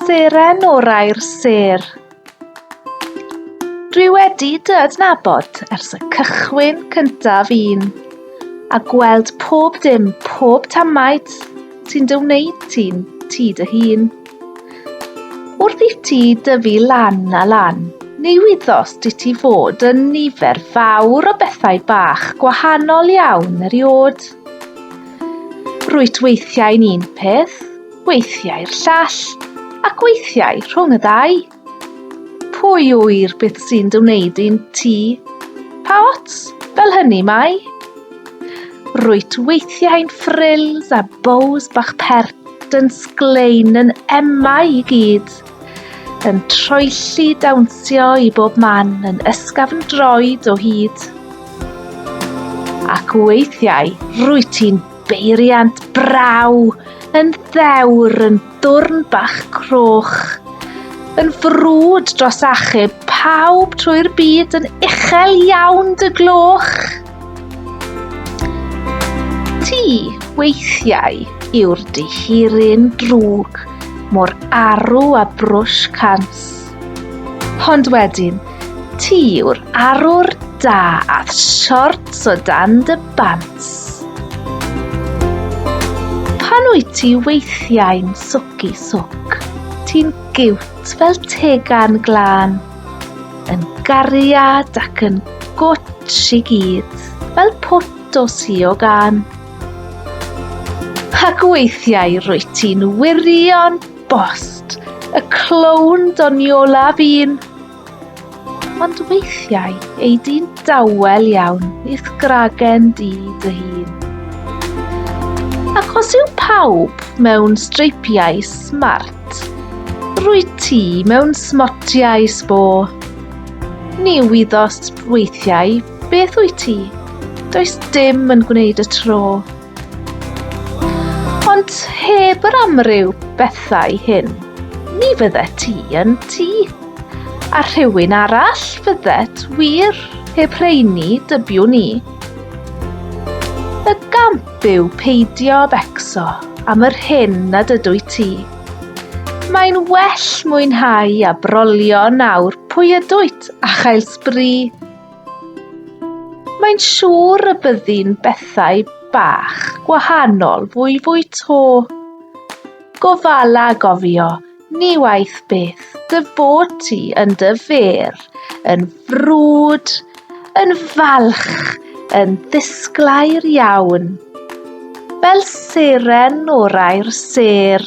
Seren orau'r sêr. Dwi wedi dy adnabod ers y cychwyn cyntaf un, a gweld pob dim, pob tamaid sy'n dy wneud ti'n ti dy hun. Wrth i ti dyfu lan a lan, ni wyddos di ti fod yn nifer fawr o bethau bach gwahanol iawn eriod. Rwyt weithiau'n un peth, weithiau'r llall, ac weithiau rhwng y ddau. Pwy ŵyr beth sy'n dy wneud di'n ti? Pa ots, fel hynny mae? Rwyt weithiau'n frills a bows bach pert yn sglein yn emau i gyd. Yn troelli dawnsio i bob man yn ysgafn droed o hyd. Ac weithiau rwy ti'n beiriant braw yn ddewr yn dwrn bach croch, yn frwd dros achub pawb trwy'r byd yn uchel iawn dy gloch. Ti, weithiau, yw'r dihiryn drwg, mor arw a brwsh cans. Ond wedyn, ti yw'r arwr da ath siorts o dan dy bant. Pan wyt ti weithiau'n swc i swc, ti'n giwt fel tegan glân. Yn gariad ac yn gwtsh i gyd, fel pwt o sio gan. Ac weithiau rwy ti'n wirion bost, y clown doniola fi'n. Ond weithiau ei di'n dawel iawn i'th gragen di dy hun. Ac os yw pawb mewn streipiau smart, Rwyt ti mewn smotiau sbo. Ni wyddos weithiau beth wyt ti, does dim yn gwneud y tro. Ond heb yr amryw bethau hyn, ni fydde ti yn ti. A rhywun arall fyddet wir heb rheini dybiwn ni. Y gamp Byw peidio becso am yr hyn nad ydwyt ti. Mae'n well mwynhau a brolio nawr pwy ydwyt a chael sbri. Mae'n siŵr y byddi'n bethau bach gwahanol fwy fwy to. Gofala gofio Ni waeth beth dy bod ti yn dy fer, yn frwd, yn falch, yn ddisglair iawn, fel seren o'r air sêr.